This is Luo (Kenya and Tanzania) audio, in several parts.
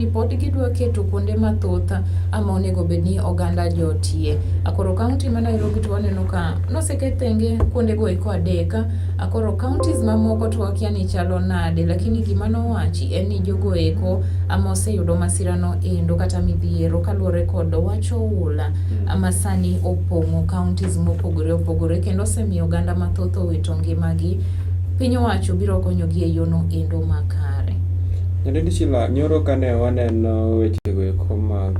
Ripod gidwa keto kuonde mathoth ama onego bed ni oganda jotie. Akoro kaunti ma Nairobi to waneno ka noseket thenge kuondego eko adek. Akoro kauntis mamoko to wakia ni chalo nade, lakini gima nowachi en ni jogo eko ama oseyudo masirano endo kata midhiero kaluwore kod wach oula hmm. ma sani opong'o kauntis mopogore opogore kendo osemiyo oganda mathoth owito ngimagi. Piny owacho biro konyogi e yono endo makare. Nyadendi Shila, nyoro kane waneno wechego eko mag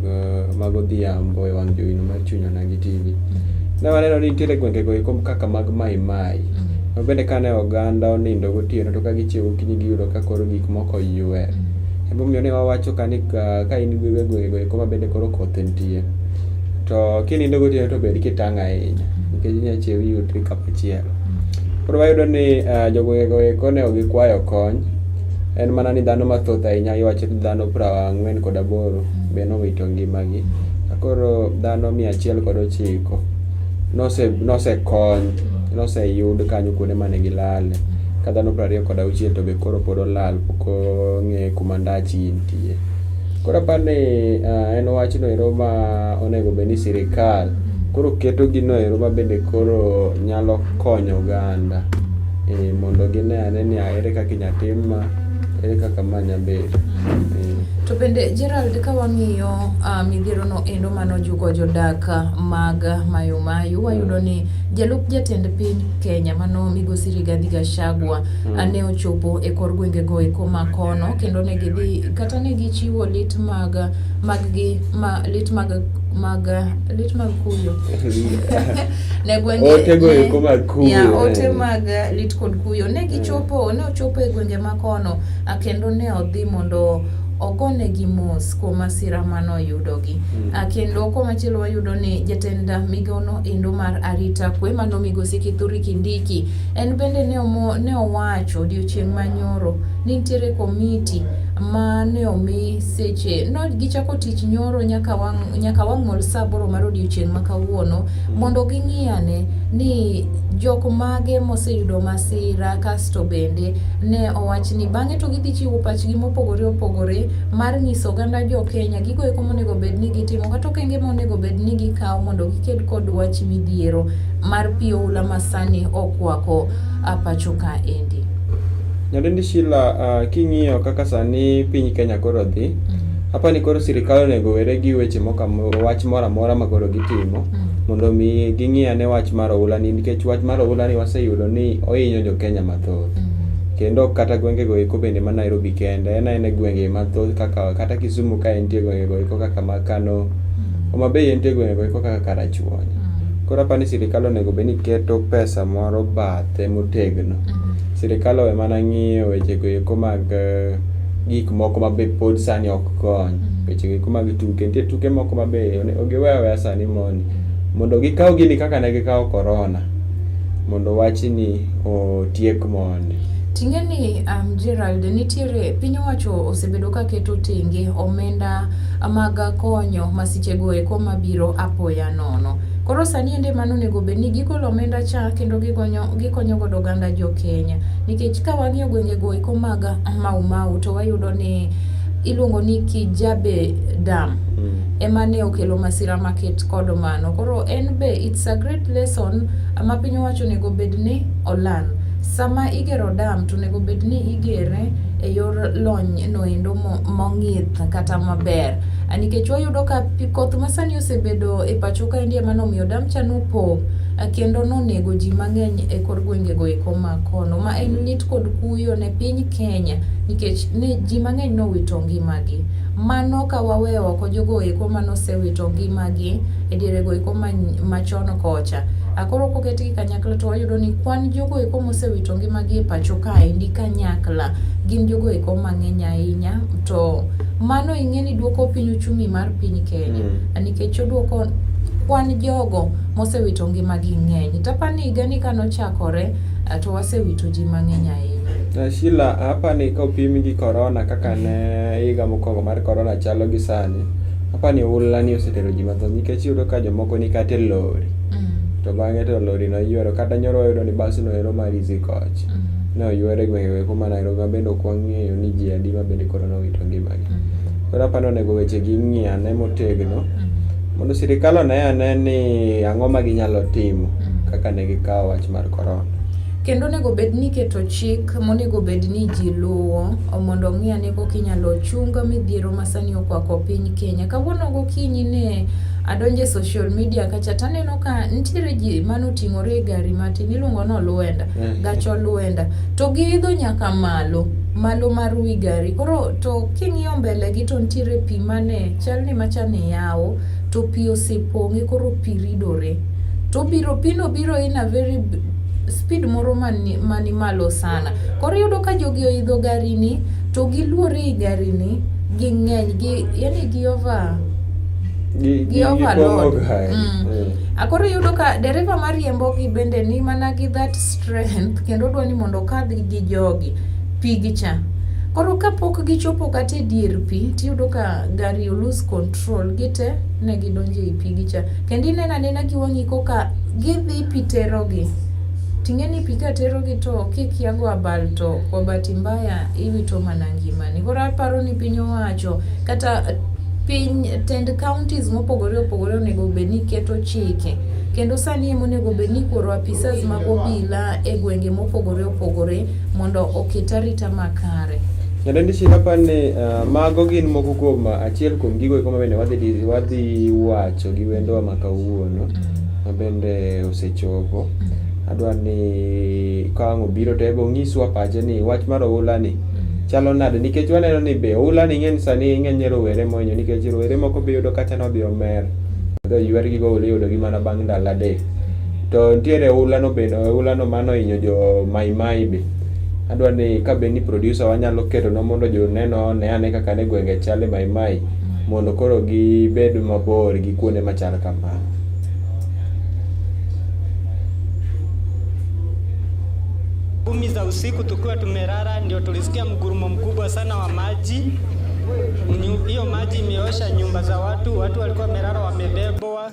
mag odhiambo e wang' jowino mar chuny onagi TV, ne waneno ni nitiere gwengego eko kaka mag Mai Mai. Ma bende kane oganda onindo gotieno to ka gichiewo gokinyi giyudo ka koro gik moko oywer. Emomiyo ne wawacho ka ni ka ka in e gwengego eko ma bende koro koth nitie, to kinindo gotieno to bed kitang' ahinya nikech inya chiew iyudri kamachielo. Koro wayudo ni ah, jogwengego eko ne ok gikwayo kony, En mana ni dhano mathoth ahinya iwacho ni dhano prang'wen kod aboro be nowito ngimagi. Koro dhano mia achiel kod ochiko nose nosekony noseyud kanyo kuonde mane gilale. Ka dhano prariyo kod auchiel to be koro pod olal pok ong'e kuma ndachi nitie. Koro aparo ni eh, en wachno ero ma onego bed ni sirikal koro keto gino ero ma bende koro nyalo konyo oganda. Ee, mondo gine ane ni ere kaka inya tim ma, ere kaka ma nya bedo. Ee. To bende Gerald ka wang'iyo uh, midhiero no endo mano juko jodak ah, mag ah, Mayo Mayo mm. wayudo ni jalup jatend piny Kenya mano Migosi Rigathi Gachagua mm. ane ah, ochopo e kor gwenge go e koma kono kendo ne gidhi kata ne gichiwo lit mag mag gi ma lit mag mag lit mag kuyo ne gwenge ote go eko mag kuyo ya ote eh. mag eh, lit kod kuyo ne gichopo eh. ne ochopo e gwenge ma kono kendo ne odhi mondo ogone gi mos kuom masira mano yudogi mm. Ah, kendo komachielo wayudo ni jatend migono endo mar arita kwe mano migosi kithuri kindiki en bende ne owacho odiochieng' manyoro Nitiere komiti ma ne omi seche no gichako tich nyoro nyaka wang' nyaka wang'ol saa aboro mar odiechieng' ma kawuono mondo ging'i ane ni jok mage moseyudo masira kasto bende ne owach ni bang'e to gidhi chiwo pachgi mopogore opogore mar nyiso oganda jo Kenya gigo eko monego bed ni gitimo kata okenge monego bed ni gikawo mondo giked kod wach midhiero mar pi oula masani okwako pacho ka endi. Nyadendi Sheila, uh, king'iyo kaka sani piny Kenya koro dhi, mm. apa ni koro sirikal onego were gi weche moko wach moro amora ma koro gitimo mm. mondo mi ging'iya ne wach mar oula ni nikech wach mar oula ni waseyudo ni ohinyo jo Kenya mathoth. Mm. Kendo kata gwenge go eko bende ma Nairobi kende, en aena gwenge mathoth kaka kata Kisumu ka entie gwenge go eko kaka ma Kano, mm. Homa Bay entie gwenge go eko kaka Karachuonyo. Mm. Koro apa ni sirikal onego bed ni keto pesa moro bathe motegno. Mm. Sirikal owe mana ng'iyo wechego eko mag eh, gik moko ma be pod sani ok kony. Mm-hmm. Wechego eko mag tuke, nitie tuke moko ma be giwe aweya sani mondi. Mondo gikaw gini kaka ne gikawo korona, mondo wachni otiek mondi. Ting'e ni um, Gerald nitiere piny owacho osebedo ka keto tenge omenda mag konyo masichego eko mabiro apoya nono. Koro sani ende mano onego bed ni gigolo omenda cha kendo gigonyo gikonyo godo oganda jo Kenya nikech ka wang'iyo gwenge go iko mag Mau Mau to wayudo ni iluongo ni Kijabe Dam mm. ema ne okelo masira maket kod mano. Koro en be it's a great lesson ma piny owacho onego bed ni oland. Sama igero dam to onego bed ni igere e yor lony noendo mong'ith kata maber nikech wayudo ka koth masani osebedo e pacho kaendi ema nomiyo dam cha nopo kendo nonego ji mang'eny e kor gwengego eko ma kono ma en lit kod kuyo ne piny Kenya nikech ne ji mang'eny nowito ngimagi. Mano ka waweyo oko jogo eko ma nosewito ngimagi e dierego eko machon kocha. Koro koketgi kanyakla to wayudo ni kwan jogo eko mosewito ngimagi e pacho kaendi kanyakla gin jogo eko mang'eny ahinya to mano ing'e ni duoko piny uchumi mar piny Kenya mm. nikech oduoko kwan jogo mosewito ngimagi ng'eny. Tapani higani ka nochakore eh, to wasewito ji mang'eny ahinya. Shila, apani ka opim gi korona kaka ne higa mokwongo mar korona chalo gi sani, apani ohulani osetero ji mathoth nikech iyudo ka jomoko ni kata e lori mm. to bang'e to lori noyuero kata nyoro wayudo ni basno ero mar Easy Coach mm. ne oyuero e gwenge weko ma Nairobi ma bende ok wang'eyo ni ji adi ma bende korona owito ngimagi. Mm. Koro apani onego weche gi ng'iane motegno Mondo sirikal one ane ni ang'o ma ginyalo timo mm. kaka ne gikawo wach mar korona. Kendo onego bed ni iketo chik monego bed ni ji luwo mondo ong'i ane kok inyalo chung midhiero ma sani okwako piny Kenya. Kawuono gokinyi ne adonjo e social media kacha to aneno ka nitiere ji mane oting'ore e gari matin iluongo ni olwenda, mm. gach olwenda to giidho nyaka malo malo mar wi gari koro to king'iyo mbele gi to nitiere pi mane chal ni macha ni yawo to pi osepong'e koro pi ridore to biro pino biro in a very speed moro mani, mani malo sana koro iyudo ka jogi oidho gari ni to giluore i gari ni ging'eny gi yani gi over gi overload mm. mm. akoro iyudo ka dereva mariembogi bende ni mana gi that strength kendo odwa ni mondo okadh gi jogi pigi cha. Koro kapok gichopo kata e dier pi tiyudo ka gari olose control gite ne gidonjo e pigi cha. Kendo ineno anena gi wang'i koka gidhi pi terogi. Ting'e ni pi ka terogi to kikia go abal to kwa bahati mbaya iwito mana ngimani. Koro aparo ni piny owacho kata piny tend counties mopogore opogore onego bed ni keto chike kendo sani ema onego bed ni koro apisas mag obila e gwenge mopogore opogore mondo oket arita makare. Nyadendi Shila apa ni uh, mago gin moko kuom uh, achiel kuom gigo eko mabende wadhi wadhi wacho gi wendowa ma kawuono mm. mabende osechopo. Mm. Adwa ni ka ang' obiro to ebe onyiswa pache ni wach mar oula ni mm. chalo nade nikech waneno ni be oula ni ng'eny sani ng'eny rowere mohinyo nikech rowere moko be yudo kata nodhi omer odhi oywer gi goula iyudo gi mana bang' ndalo adek. To nitiere ohulano bende, ohulano mane ohinyo jo Mai Mai be. Adwa ni ka be ni producer wa nyalo ketonwa mondo joneno one ane kaka ne gwenge chal e Mai Mai mondo koro gibed mabor gi kuonde machal kamano. kumi za usiku tukiwa tumelala, ndio tulisikia mgurumo mkubwa sana wa maji. Hiyo maji imeosha nyumba za watu, watu walikuwa wamelala wamebebwa.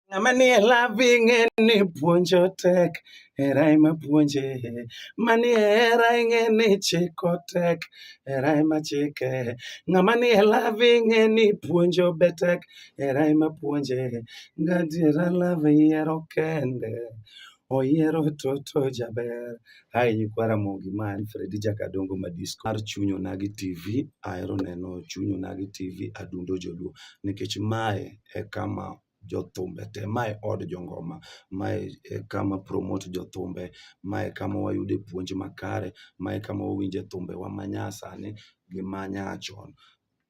Ng'ama nie lavi ng'e ni puonjo tek, hera ema puonje. Manie hera ing'e ni chiko tek, hera ema chike. Ng'ama nie lavi ing'e ni puonjo be tek, hera ema puonje. Gadiera love yiero kende, oyiero toto jaber. Hai nyikwa Ramogi ma en Fredi Jakadongo Madisko mar Chuny Onagi TV. Ahero neno Chuny Onagi TV adundo joluo nikech mae e kama jothumbe te. Mae od jongoma, mae e kama promote jothumbe, mae e kama wayude puonj makare, mae e kama wawinje thumbewa ma nyasani gi ma nyachon.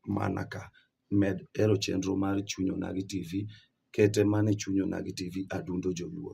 Mana ka, med hero chenro mar Chuny Onagi TV, kete mana e Chuny Onagi TV, Adundo Joluo.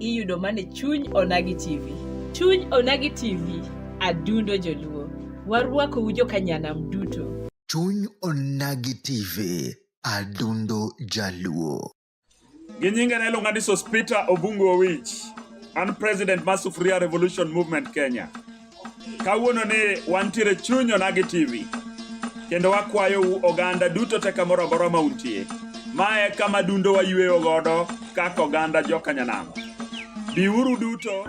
iyudo mana e chuny Onagi TV. Chuny Onagi TV, adundo joluo. Warwakou jokanyanam duto. Chuny Onagi TV, adundo jaluo. Gi nyinge ne iluonga ni Sospita Obungu Owich. An president mar Sufuria Revolution Movement Kenya. kawuono ni wantiere chuny onagi tv kendo wakwayou oganda duto te kamoro amora ma untie ma e kama dundo wayweyo godo kaka oganda jokanyanamo biuru duto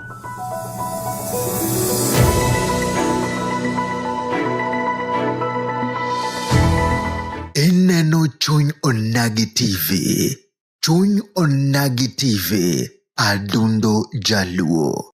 ineno chuny onagi tv chuny onagi tv adundo jaluo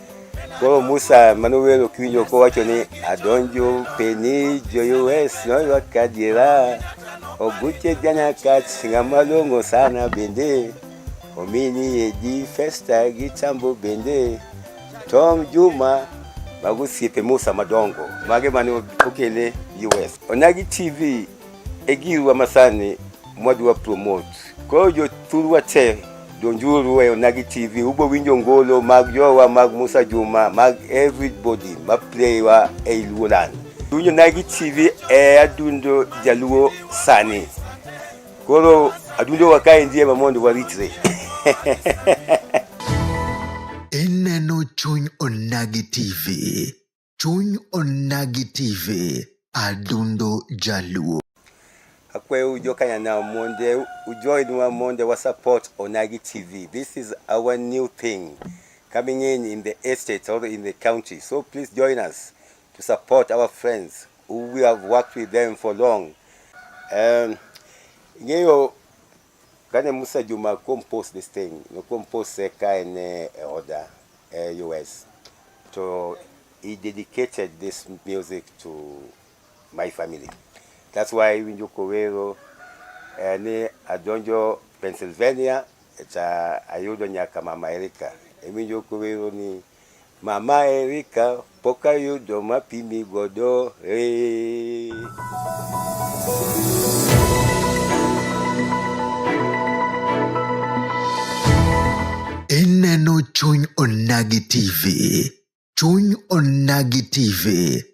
Koro Musa mane owero kiwinjo kowacho ni adonjo peni joyues noywa kadiera oguche jana kach ng'ama long'o sana bende omini edi festa gi chambo bende Tom Juma mago osiepe Musa madongo mage mane okele US. Onagi TV e giruwa masani mwadwa promote. Koro jothurwa te donjuru e Onagi TV ubo winjo ngolo mag jowa mag Musa Juma mag everybody ma playwa e Luoland. Winjo Onagi TV e adundo jaluo sani. Koro adundo wakae ndiye ma mondo waritre. Ineno chuny Onagi TV. Chuny Onagi TV, Adundo Jaluo. Akweyo ujo kanyanya monje, ujoin wa monje wa support Onagi TV. This is our new thing coming in in the estate or in the county. So please join us to support our friends who we have worked with them for long. Um, ng'eyo Kane Musa Juma compose this thing, no compose ka en e oda e US. To he dedicated this music to my family. That's why winjo kowero eh, ni adonjo Pennsylvania cha ayudo nyaka mama Erika. Iwinjo kowero ni Mama Erika pok ayudo mapimi godo hey. Ineno chuny onagi TV. Chuny onagi TV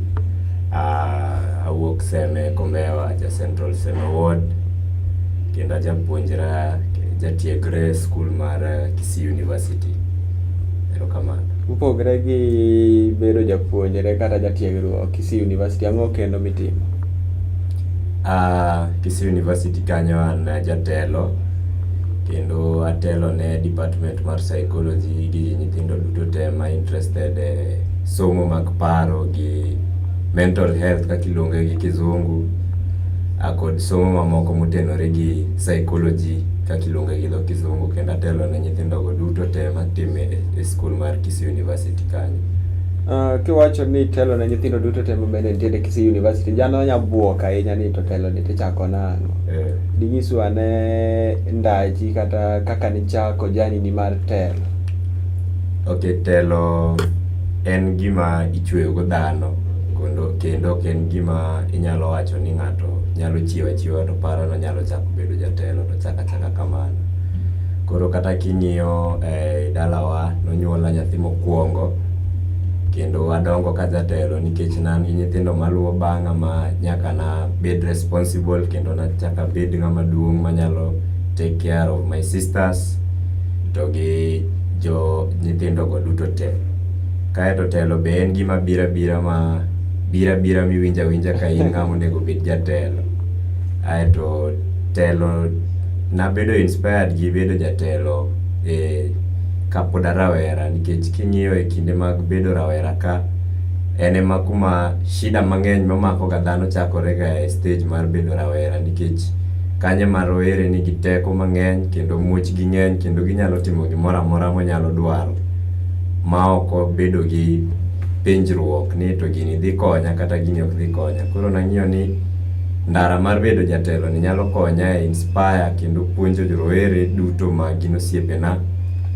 Ah, awuok Seme Kombewa, ja Central Seme Ward. Kendo ajapuonjra, jatiegre e skul mar Kisii University. Erokamano. Mopogre gi bedo japuonjre kata jatiegruok Kisii University, ang'o kendo mitimo? Ah, Kisii University kanyo an a jatelo, kendo atelo ne department mar psychology gi nyithindo duto te ma interested e. somo mag paro gi mental health kaka iluonge gi kizungu kod somo mamoko motenore gi psychology kaka iluonge gi dho kizungu kendo atelo ne nyithindogo duto te matime e skul mar Kisii University kanyo. Ah, kiwacho ni telo ne nyithindo duto te mabende nitiere Kisii University, jano nya bwok ahinya ni to telo ni tichako nang'o? Eh. Dinyiswa ane ndachi kata kaka nichako jani ni mar telo. Ok, telo en gima ichweyo go dhano kondo kendo ok en gima inyalo wacho ni ng'ato nyalo chiew achiewa to paro ni onyalo chako bedo jatelo to chak achaka kamano. Koro kata king'iyo e dalawa nonyuola nyathi mokwongo kendo adongo ka ajatelo nikech ne an gi nyithindo maluwo bang'a ma nyaka nabed responsible kendo nachak abed ng'ama duong' manyalo take care of my sisters. to gi jo nyithindo go duto te. Kaeto telo be en gima bira bira ma bira bira miwinja winja ka in ng'ama onego bed jatelo. Aeto telo nabedo inspired gi bedo jatelo e kapod a rawera nikech king'iyo e kinde mag bedo rawera ka en ema kuma shida mang'eny mamako ga dhano chakore ga e stage mar bedo rawera nikech Kanye ma rowere nigi teko mang'eny kendo muchgi ng'eny kendo ginyalo timo gimoro amora monyalo dwaro ma ok obedo gi penjruok ni to gini dhi konya kata gini ok dhi konya. Koro nang'iyo ni ndara mar bedo jatelo ni nyalo konya e inspire kendo puonjo rowere duto ma gin osiepena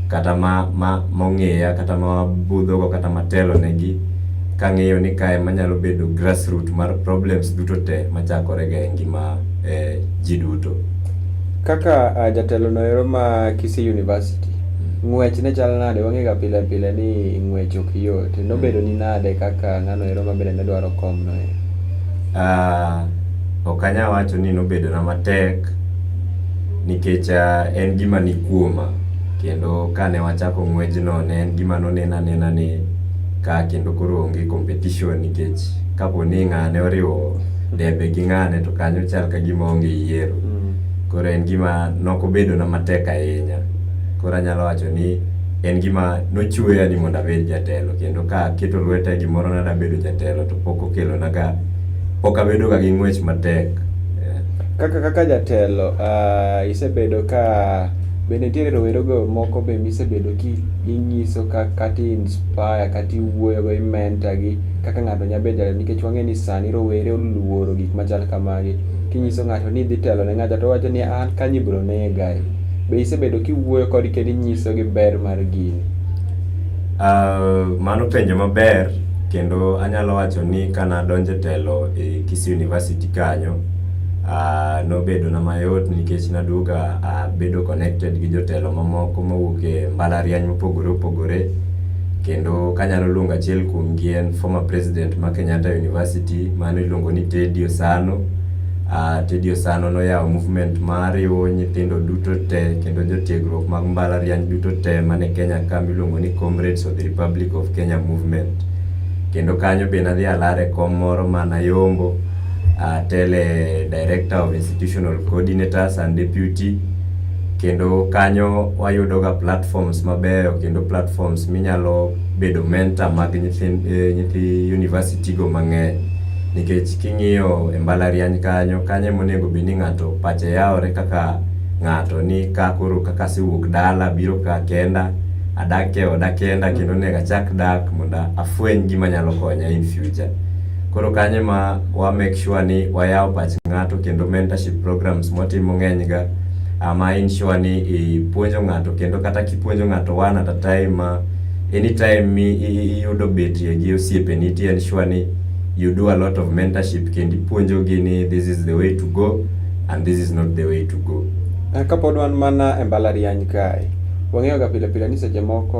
kata ma ma mong'eya kata ma wabudhogo kata matelo negi kang'eyo ni kae manyalo bedo grassroot mar problems duto te machakore ga e ngima eh, ji duto. Kaka uh, jatelo noero ma Kisii University mm. ng'wech ne chal nade wang'ega pile pile ni ng'wech ok yot mm. nobedo ni nade kaka ng'ano ero mabende ne dwaro kom no e uh, ok anya wacho ni nobedona matek nikech uh, en gima ni kuoma kendo kane wachako ng'wejno ne en gima nonena nena ni ka kendo koro onge competition nikech kapo ni ng'ane oriwo debe gi ng'ane to kanyo chal ka gima onge yiero mm. koro en gima nokobedona matek ahinya koro anyalo wacho ni en gima nochueya ni mondo abed jatelo kendo ka keto lweta e gimoro na dabedo jatelo to pok okelonaga pok abedoga gi ng'wech matek eh. kaka kaka jatelo uh, isebedo ka be nitiere rowerego moko be misebedo kinyiso kata inspire kata iwuoyogo imenta gi kaka ng'ato nya bedo jatelo nikech wang'e ni sani rowere oluoro gik machal kamagi. Kinyiso ng'ato ni idhi telo ne ng'acha to owacho ni an kanyo ibiro nega. Be isebedo kiwuoyo kodgi kendo inyisogi ber mar gini? Uh, mano penjo maber kendo anyalo wacho ni ka nadonjo e telo e Kisii University kanyo uh, nobedona mayot nikech naduoga abedo uh, connected gi jotelo mamoko mawuok e mbalariany mopogore opogore kendo kanyalo luongo achiel kuom gi en former president ma Kenyatta University mano iluongo ni Teddy Osano. Uh, Teddy Osano noyawo movement ma riwo nyithindo duto te kendo jotiegruok mag mbalariany duto te mane Kenya ka miluongo ni Comrades of the Republic of Kenya Movement. Kendo kanyo be nadhi alare kom moro ma Nayombo uh, tele director of institutional coordinators and deputy kendo kanyo wayudoga platforms mabeyo kendo platforms minyalo bedo mentor mag nyithi, eh, nyithi university go mang'eny nikech king'iyo e mbalariany kanyo kanyo emonego bed ni ng'ato pache yawore kaka ng'ato ni ka koro kaka asewuok dala biro ka kenda adak e oda kenda kendo onego achak dak mondo afweny gima nyalo konya in future koro kanyo ma wa make sure ni wayawo pach ng'ato kendo mentorship programs mwatimo ng'enyga um, I ensure ni ipuonjo ng'ato kendo kata kipuonjo ng'ato one at a time uh, anytime mi iyudo betie gi osiepeni ti ensure ni you do a lot of mentorship kendo ipuonjogi ni this is the way to go and this is not the way to go. Eh, kapod wan mana e mbalariany kae wang'eyo ga pile pile ni seche moko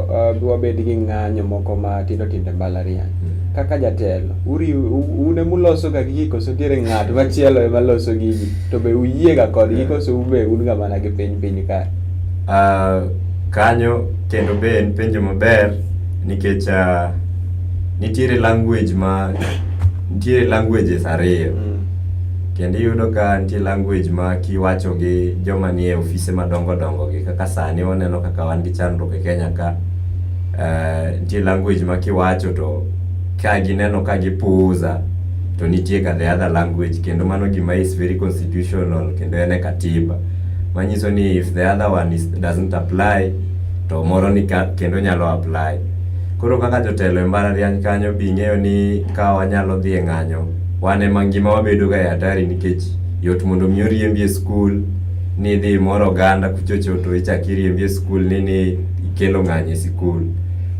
uh, wabed gi ng'anyo moko ma tindo tindo e mbalariany. Mm. kaka jatelo un ema uloso ga gigi koso nitiere ng'at machielo ema loso gigi to be uyie ga kodgi koso un be un ga mana gi piny piny kae ah, kanyo kendo be en penjo maber nikech ah, nitiere language ma nitiere languages ariyo mm. kendo iyudo ka nitie language ma kiwacho gi joma nie ofise madongo dongo gi kaka sani waneno kaka wan gi chandruok e Kenya ka Uh, nitie language ma kiwacho to ka gineno ka gipuuza to nitie ka the other language kendo mano gima is very constitutional kendo en e katiba manyiso ni if the other one is, doesn't apply to moro ni ka, kendo nyalo apply koro kaka jotelo e mbalariany kanyo bing'eyo ni ka wanyalo dhi e ng'anyo wan ema ngima wabedo ga e hatari nikech yot mondo mi oriembi e skul ni dhi moro oganda kuchocho to ichak iriembi e skul ni ni ikelo ng'anyo e sikul.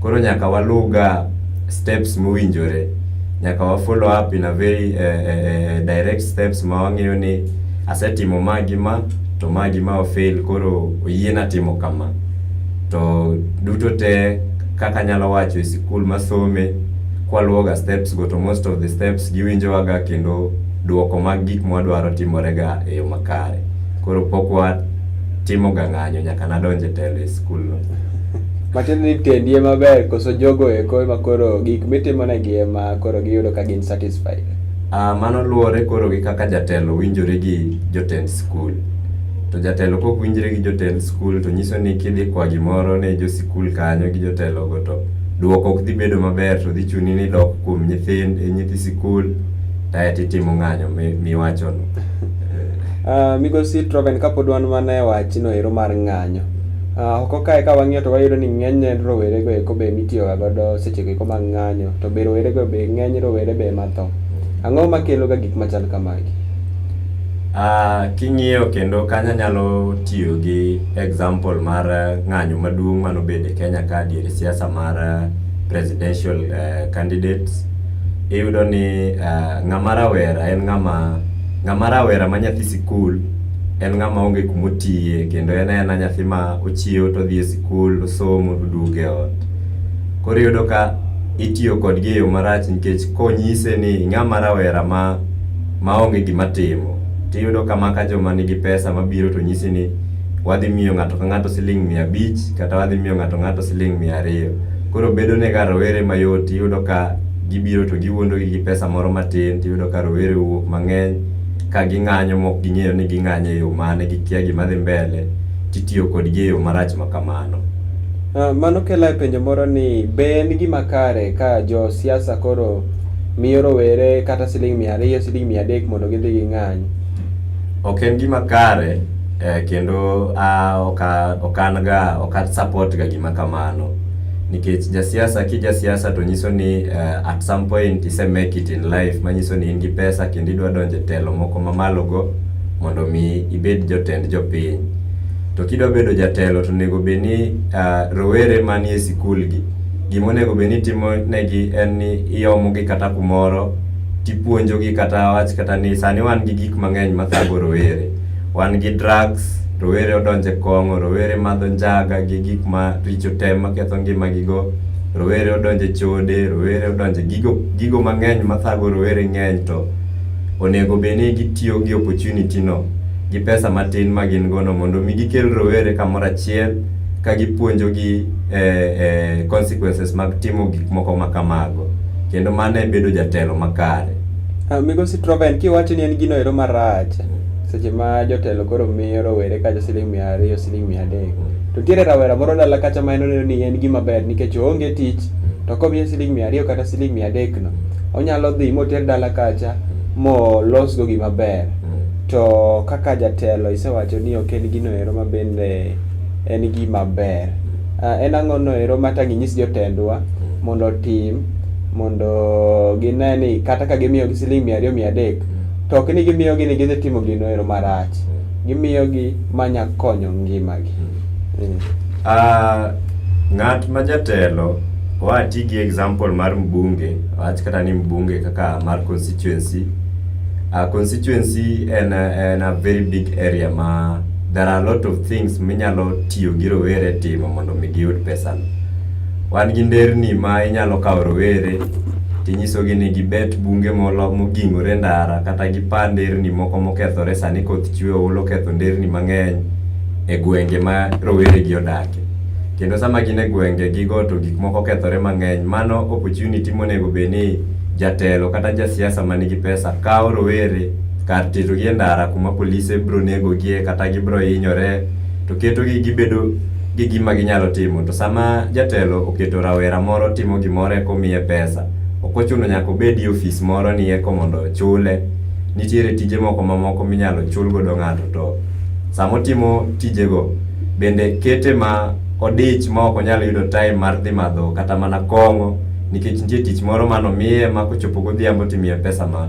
Koro nyaka waluwga steps mowinjore, nyaka wa follow up in a very uh, uh, direct steps ma wang'eyo ni asetimo ma gi ma to ma gi ma ofail koro oyiena timo kama. To duto te kaka anyalo wacho e sikul masome kwaluwoga steps go to most of the steps giwinjowaga kendo duoko mag gik mwadwaro timorega e yo makare. Koro pok wa timo ga ng'anyo nyaka nadonj e telo e skulno. Matiende ni tendi ema ber koso jogo eko ema koro gik mitimonegi ema koro giyudo ka gin satisfied? Uh, mano luwore koro gi kaka jatelo winjore gi jotend skul. To jatelo kok winjre gi jotend skul to nyiso ni kidhi kwa gimoro ne jo sikul kanyo gi jotelogo to duoko ok dhi bedo maber to dhi chuni ni dok kuom nyithind nyithi sikul taeto itimo ng'anyo miwachono. Uh, migosi Troven kapod wan mana e wachno ero mar ng'anyo uh, oko kae ka wang'iyo to wayudo ni ng'enyne rowerego eko be mitiyoga godo sechego eko mag ng'anyo to be rowerego be ng'eny rowere be matho ang'o makeloga gik machal kamagi uh, king'iyo kendo kanya nyalo tiyo gi example mar ng'anyo maduong' manobede kenya ka diere siasa mar presidential uh, candidates iyudo ni ng'ama rawera en ng'ama, ng'ama rawera ma nyathi sikul en ng'ama onge kuma otiye kendo en aena nyathi ma ochiew to odhi e sikul to osomo to oduogo e ot. Koro iyudo ka itiyo kodgi eyo marach nikech ka onyise ni ing'ama rawera ma maonge gima timo to iyudo ka maka joma nigi pesa mabiro to nyisi ni wadhi miyo ng'ato ka ng'ato siling' mia abich kata wadhi miyo ng'ato ka ng'ato siling' mia ariyo. Koro bedo ne ga rowere mayot iyudo ka gibiro to giwuondo gi pesa moro matin tiyudo ka rowere owuok mang'eny ka ging'anyo mok ging'eyo ni ging'anyo e yo mane gikia gima dhi mbele titiyo kodgi e yo marach ma kamano. Uh, mano kela e penjo moro ni be en gima kare ka jo siasa koro miyo rowere kata siling mia ariyo siling mia adek mondo gidhi ging'any ok en gima kare eh, kendo uh, ok an ga ok support ga gima kamano nikech jasiasa ki jasiasa to nyiso ni uh, at some point ise make it in life manyiso ni in gi pesa kendo idwa donje telo moko mamalo go mondo mi ibed jotend jopiny to kidwa bedo jatelo to onego bed ni uh, rowere manie sikul gi gima onego bed ni timo negi en ni iomo gi kata kumoro tipuonjo gi kata wach kata ni sani wan gi gik mang'eny mathago rowere Wan gi drugs, rowere odonje kong'o, rowere madho njaga gi gik ma richo te maketho ngima gi go. Rowere odonje chode, rowere odonje gigo gigo mang'eny mathago rowere ng'eny to onego bed ni gitiyo gi opportunity no gi pesa matin ma gin gono mondo mi gikel rowere kamoro achiel ka gipuonjogi eh, eh, consequences mag timo gik moko ma kamago kendo mano e bedo jatelo makare Ah, Migosi Troven, kiwacho ni en gino ero marach, seche ma jotelo koro miyo rowere kacha siling mia ariyo, siling mia adek. To nitiere rawera moro dala kacha ma en oneno ni en gima ber nikech oonge tich, to komiye siling mia ariyo kata siling mia adek no, onyalo dhi moter dala kacha molosgo gima ber. To kaka jatelo isewacho ni ok en gino ero ma bende en gima ber. Uh, en ang'o no ero ma tangi nyis jotendwa mm. mondo otim mondo gine ni kata ka gimiyo gi siling mia ariyo mia adek mm. to ok ni gimiyo gi ni gidhi timo gino ero marach mm. gimiyo gi manya konyo ngima gi mm. mm. uh, ng'at ma jatelo wati gi example mar mbunge wach kata ni mbunge kaka mar constituency uh, constituency en, en a very big area ma there are a lot of things minyalo tiyo gi rowere timo mondo mi giyud pesano. Wan gi nderni ma inyalo kawo rowere tinyisogi ni gibet bunge molo mogingore ndara kata gipa nderni moko mokethore sani koth chwe olo ketho nderni mang'eny e gwenge ma rowere gi odake. Kendo sama gin e gwenge gigo to gik moko kethore mang'eny. Mano opportunity monego bed ni jatelo kata jasiasa man gi pesa kawo rowere Kar tito gi e ndara kuma polise biro nego gie kata gibiro hinyore to keto gi gibedo gi gima ginyalo timo to sama jatelo oketo rawera moro timo gimoro eko miye pesa ok ochuno nyaka obed e ofis moro ni eko mondo ochule nitiere tije moko mamoko minyalo chul godo ng'ato to sama otimo tijego bende kete ma odich ma ok onyal yudo time mar dhi madho kata mana kong'o nikech nitie tich moro manomiye ma kochopo godhiambo timiye pesa ma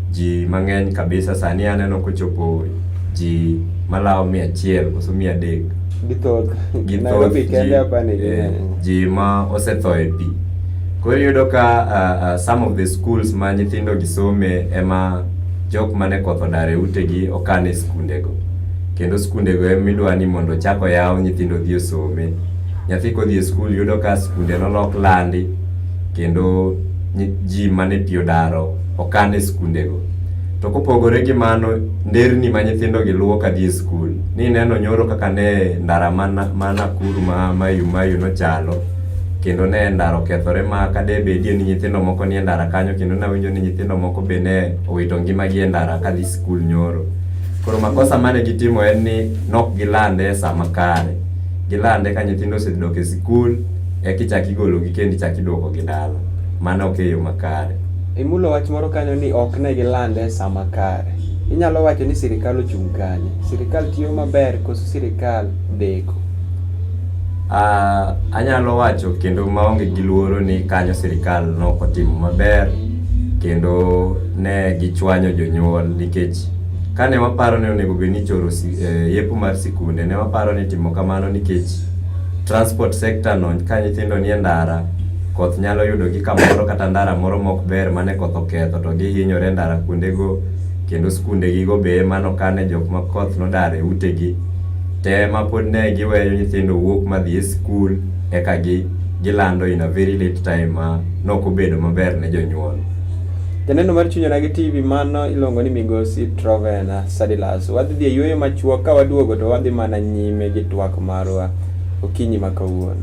Ji mang'eny kabisa sani aneno kochopo ji malawo mia achiel koso mia adek githoth githoth eh, ji ma osetho e pi koro iyudo ka uh, uh, some of the schools ma nyithindo gisome ema jok mane koth odar e utegi okan e skundego kendo skundego emidwa ni mondo chako yaw nyithindo dhi osome nyathi kodhi e skul yudo ka skunde nolok landi kendo ji mane pi odaro okan e skundego. To kopogore gi mano, nderni ma nyithindogi luwo ka dhi e skul, nineno nyoro kaka ne ndara ma Nakuru ma Mayu Mayu nochalo, kendo ne ndara okethore ma ka de bedie ni nyithindo moko nie ndara kanyo kendo nawinjo ni nyithindo moko be ne owito ngimagi e ndara ka dhi skul nyoro. Koro makosa mane gitimo en ni nok gilande e sa makare, gilande ka nyithindo osedok e skul, ekichak igologi kendo ichak iduokogi dala. Mano ok e yo makare. Imulo wach moro kanyo ni ok ne gilande e sa makare. Inyalo wacho ni sirkal ochung' kanye? Sirkal tiyo maber koso sirkal deko? Anyalo wacho kendo maonge gi luoro ni kanyo sirkal nok otimo maber kendo ne gichwanyo jonyuol nikech kane waparo ni onego bed ni ichoro eh, yepo mar sikunde ne waparo ni timo kamano nikech transport sector no ka nyithindo nie ndara Koth nyalo yudogi kamoro kata ndara moro mok ber mane koth oketho to gihinyore ndara kuondego kendo skundegigo be ema nokane jok ma koth nodar e utegi te ma pod ne giweyo nyithindo wuok madhi e skul eka gi gilando in a very late time ma nok obedo maber ne jonyuol. Janeno mar chunyona gi TV mano iluongo ni Migosi Trovena Sadilas. Wadhi dhi e yueyo machuok ka waduogo to wadhi mana nyime gi twak marwa okinyi ma kawuono.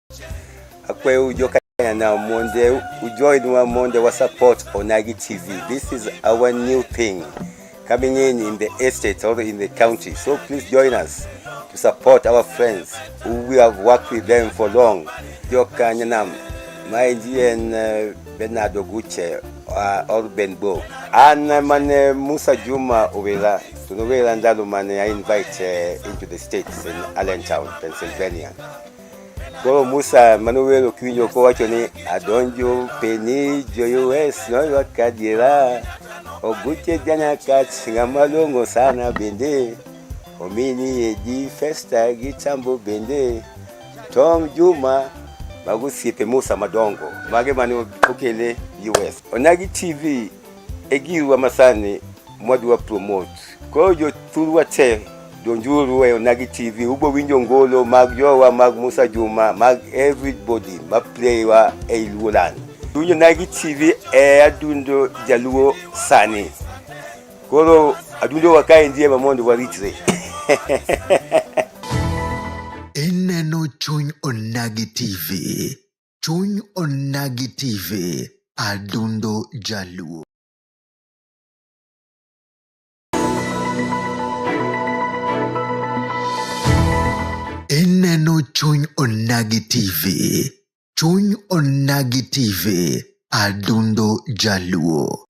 akwe ujo kanya na monde ujo inwa monde wa support onagi tv this is our new thing coming in in the estate or in the county so please join us to support our friends who we have worked with them for long ujo kanya na my and uh, Bernard Oguche uh, or Benbo and uh, mane Musa Juma Owela tunowela ndalo mane I invite uh, into the states in Allentown Pennsylvania Koro Musa mane owero kiwinjo kowacho ni adonjo peni joyues noywa kadiera oguche janakat ng'ama long'o sana bende omini yedi festa gi chambo bende Tom Juma mago osiepe Musa madongo mage mane okele US. Onagi TV e giwa masani mwadwa promote. Koro jothurwa te donjuru e Onagi TV, ubo winjo ngolo mag jowa mag Musa Juma mag everybody ma playwa e Luoland. Winjo Onagi TV e adundo jaluo sani. Koro adundo wakae ndiye ma mondo waritre. Ineno chuny Onagi TV. Chuny Onagi TV, Adundo Jaluo. Ineno Chuny Onagi TV, Chuny Onagi TV, Adundo Jaluo.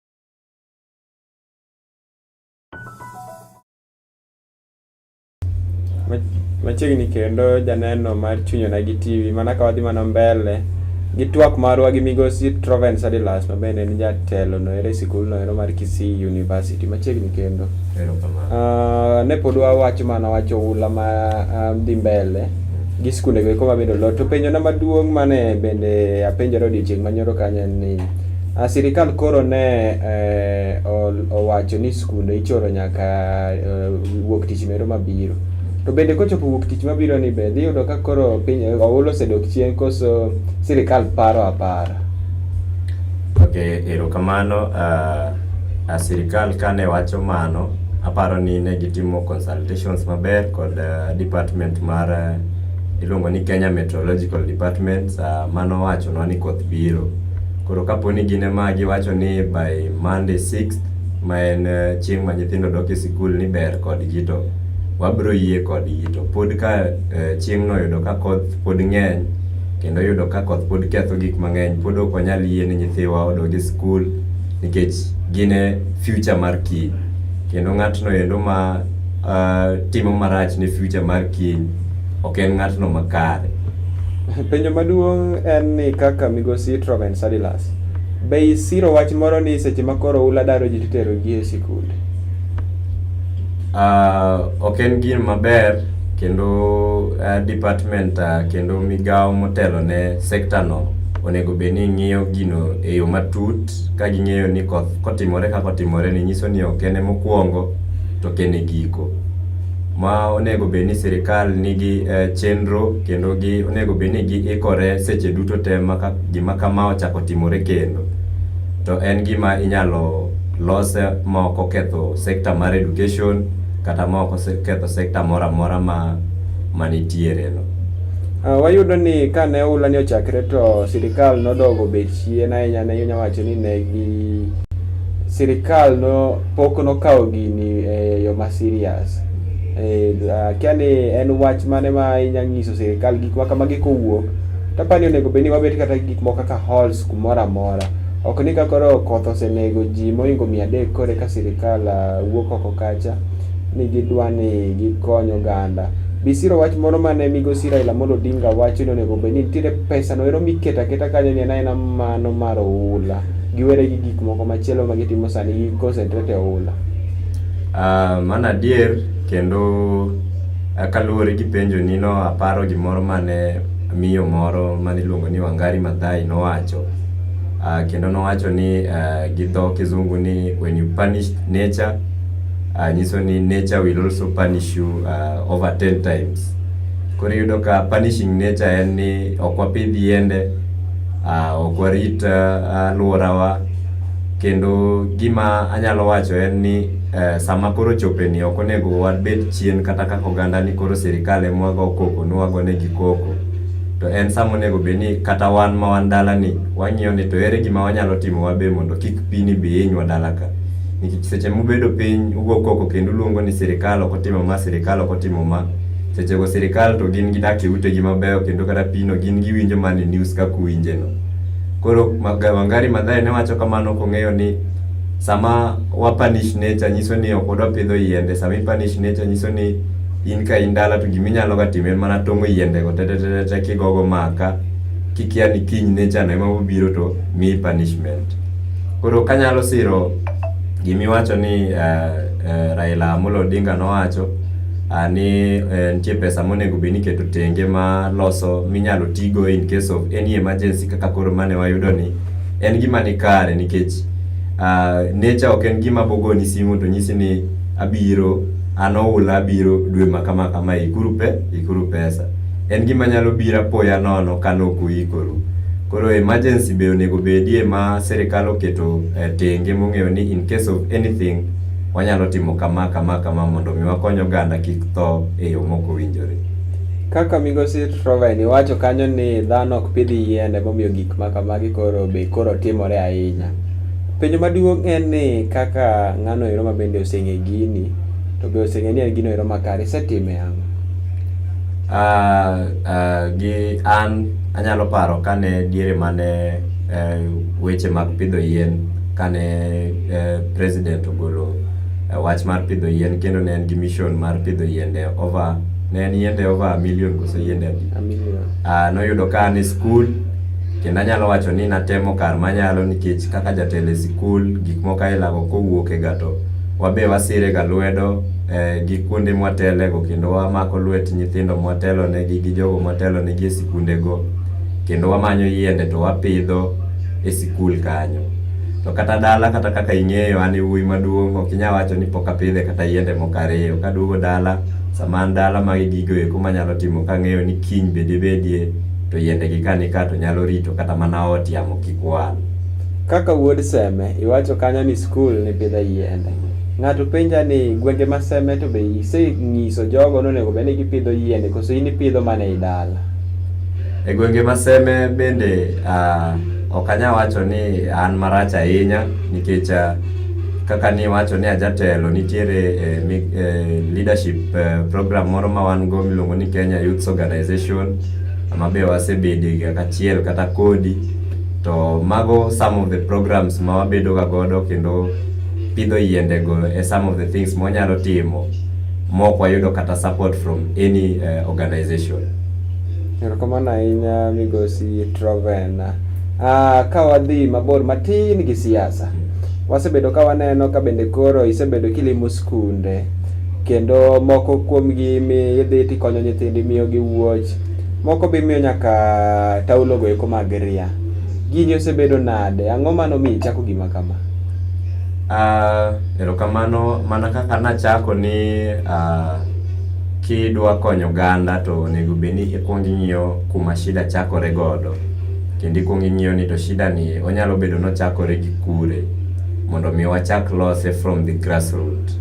Machiegni kendo janeno mar chunyo na gi TV mana ka wadhi mana mbele gi twak marwa gi migosi Troven Sadilas ma bende en jatelo no ere sikul no ero mar Kisii University machiegni kendo. Uh, ne pod wawacho mana wacho ula ma uh, dhi mbele gi skunde go koma bedo lot to penjo na maduong' mane bende apenjore odiochieng' manyoro kanyo en ni uh, sirikal koro ne uh, owacho ni kuno ichoro nyaka uh, wuok tich mero mabiro to bende kochopo wuok tich mabiro ni be dhi yudo ka koro piny eh, oula osedok chien koso sirikal paro apara ok erokamano uh, ah, sirikal kane wacho mano aparo ni ne gitimo consultations maber kod uh, department mar uh, iluongo ni Kenya Meteorological Department uh, mano wachonwa ni koth biro koro kapo ni gin ema giwacho ni by Monday 6th ma en eh, chieng' ma nyithindo dok e sikul ni ber kodgi to wabiro yie kodgi to pod ka eh, chieng'no oyudo ka koth pod ng'eny kendo yudo ka koth pod ketho gik mang'eny pod ok wanyal yie ni nyithiwa odog e sikul nikech gin e future mar kiny kendo ng'atno endo ma eh, timo marach ne future mar kiny ok en ng'atno makare Penjo maduong' en ni kaka migosi Troven Sadilas Be isiro wach moro ni seche ma koro ula daro ji titero ji e sikunde? Ah, ok en gin maber kendo ah, department ah, kendo migawo motelo ne sekta no onego bed ni ng'iyo gino e yo matut ka ging'eyo ni koth kotimore kaka otimore ni nyiso ni ok en mokwongo to ok en e giko. Ma onego bed ni sirikal nigi eh, chenro kendo gi onego bed ni giikore seche duto te ma ka gima kama ochako timore kendo to en gima inyalo lose ma ok oketho sekta mar education kata ma ok oketho sekta moro amora ma manitiereno. Uh, wayudo ni kane oula ni ochakre to sirikal nodogo bet chien ahinya ne inya wacho ni ne gi sirikal no pok nokawo gini e yo ma serious e, uh, kia ni en wach mane ma inya nyiso sirikal gik ma kamagi kowuok To aparo ni onego bed ni wabet kata gik moko kaka halls kumoro amora. Ok ni ka koro koth osenego ji mohingo mia adek koro eka sirkal ah, wuok oko kacha ni gidwa ni gikony oganda. Bisiro wach moro mane migosi Raila Amolo Odinga wacho ni onego bed ni nitiere pesa no ero miketo aketa kanyo ni en aena mano mar oula. Giwere gi gik moko machielo ma gitimo sani gi concentrate e oula. Ah, mano adier kendo Kaluwore gi penjo ni no aparo gimoro mane miyo moro mane iluongo ni Wangari Maathai nowacho uh, kendo nowacho ni uh, gi dho kizungu ni when you punish nature uh, nyiso ni nature will also punish you uh, over 10 times. Koro yudo ka punishing nature en ni ok wapidh yiende uh, ok warit uh, alworawa uh, kendo gima anyalo wacho en ni Eh, sama koro chope ni ok onego wabed chien kata kaka oganda ni koro sirikal ema wago koko ni wago negi koko to en sama onego bed ni kata wan ma wan dala ni wang'iyo ni to ere gima wanyalo timo wabe mondo kik pini bi hinywa dala ka nikech seche mubedo piny ugo koko kendo uluongo ni sirikal ok otimo ma sirikal ok otimo ma sechego sirikal to gin gidak e utegi mabeyo kendo kata pino gin giwinjo mana e news kaka uwinjeno koro Wangari Maathai ne wacho kamano kong'eyo ni Sama wa punish nature nyiso ni ok wadwa pidho yiende. Sama i punish nature nyiso ni in ka in dala to gima inyalo ga timo en mana tong'o yiende go tetetetete kigogo maka kikia ni kiny nature no ema bobiro to miyi punishment. Koro kanyalo siro gima iwacho ni uh, uh, Raila Amolo Odinga nowacho uh, ni eh, nitie pesa monego bed ni iketo tenge ma loso minyalo tigo in case of any emergency kaka koro mane wayudo ni En gima ni kare nikech uh, nature ok en gima bogoni simu to nyisi ni abiro an oula abiro dwe ma kama kama ikuru pe ikuru pesa. En gima nyalo bira poya nono ka nok uikoru. Koro emergency be onego bedie ma sirikal oketo e tenge mong'eyo ni in case of anything wanyalo timo kama kama kama mondo mi wakony oganda kik tho e yo mok owinjore. Kaka migosi Trovain iwacho kanyo ni dhano ok pidh yiende momiyo gik Maka magi koro be koro timore ahinya. Penjo maduong' en ni kaka ng'ano ero ma bende oseng'e gini to be oseng'e ni en gino ero makare isetime ang'o? Uh, uh, gi an anyalo paro kane diere mane uh, weche mag pidho yien kane uh, president ogolo uh, wach mar pidho yien kendo ne en gi mission mar pidho yiende over ne en yiende over million koso yiende Ah, noyudo ka an e skul kendo anyalo wacho ni natemo kar manyalo nikech kaka jatelo e sikul gik moko ailako kowuok e gato wabe wasire ga lwedo eh, gi kuonde mwatelego kendo wamako lwet nyithindo mwatelonegi gi jogo mwatelonegi e sikundego kendo wamanyo yiende to wapidho e sikul kanyo to kata dala kata kaka ing'eyo an e wuoyi maduong' ok inya wacho ni pok apidhe kata yiende moko ariyo kaduogo dala sama an dala magi gigo eko manyalo timo kang'eyo ni kiny be dibedie to yiendegi ka nika to nyalo rito kata mana ot yamo kik wal. Kaka wuod Seme, iwacho kanyo ni skul nipidhe yiende. Ng'ato penja ni gwenge ma Seme to be iseng'iso jogo nonego bed ni gipidho yiende koso in ipidho mana e dala? E gwenge ma Seme bende ah, ok anyal wacho ni an marach ahinya nikech ah, kaka ni wacho ni ajatelo nitiere eh, mi, eh, leadership eh, program moro ma wan go miluongo ni Kenya Youth Organization ma be wasebede ga kachiel kata kodi to mago some of the programs ma wabedo ga godo kendo pidho yiende go e some of the things ma wanyalo timo mok wayudo kata support from any eh, organization Erokamano ahinya migosi Trovena. Ah, ka wadhi mabor matin gi siasa. wasebedo ka waneno ka bende koro isebedo kilimo skunde kendo moko kuomgi mi idhi tikonyo nyithindi miyogi wuoch moko be imiyo nyaka taulogo eko mag ria gini osebedo nade ang'o mano mi ichako gima kama Ah, erokamano mana kaka nachako ni ah, kidwa konyo oganda to onego bed ni ikwongo ing'iyo kuma shida chakore godo Kendo ikuongo ing'iyo ni to shida ni onyalo bedo nochakore gi kure mondo mi wachak lose from the grassroot.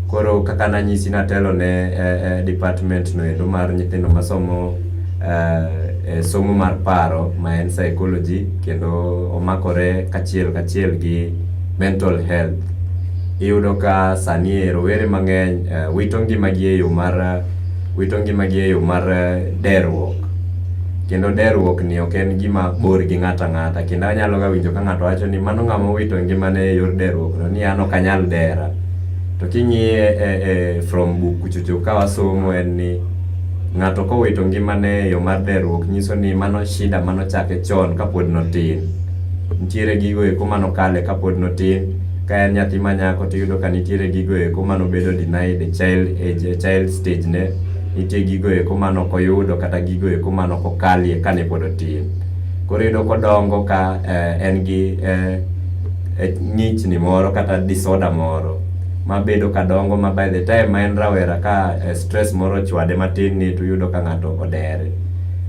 Koro kaka nanyisi natelo ne eh, eh, department no endo mar nyithindo masomo eh, eh, somo mar paro ma en psychology kendo omakore kachiel kachiel gi mental health. Iyudo ka sani e rowere mang'eny eh, wito ngimagi e yo mar wito ngimagi e yo mar eh, deruok. Kendo deruok ni ok en gima bor gi ng'ato ang'ata. Kendo anyalo ga winjo ka ng'ato wacho ni mano ng'ama owito ngimane e yor deruok no ni an ok anyal dera. To king'iye e, e, from buk kuchocho ka wasomo en ni ng'ato kowito ngimane e yo mar deruok nyiso ni mano shida mano chake chon kapod notin. Nitiere gigo eko mano kale kapod notin ka en nyathi manyako tiyudo ka nitiere gigo eko mano bedo denied e child, e child stage ne Nitie gigo eko mane ok oyudo kata gigo eko mane ok okalie kane pod otin. Koro iyudo kodongo ka eh, en gi eh, eh, ng'ichni moro kata disorder moro mabedo kadongo ma by the time ma en rawera ka eh, stress moro ochwade matin ni to yudo ka ng'ato odere.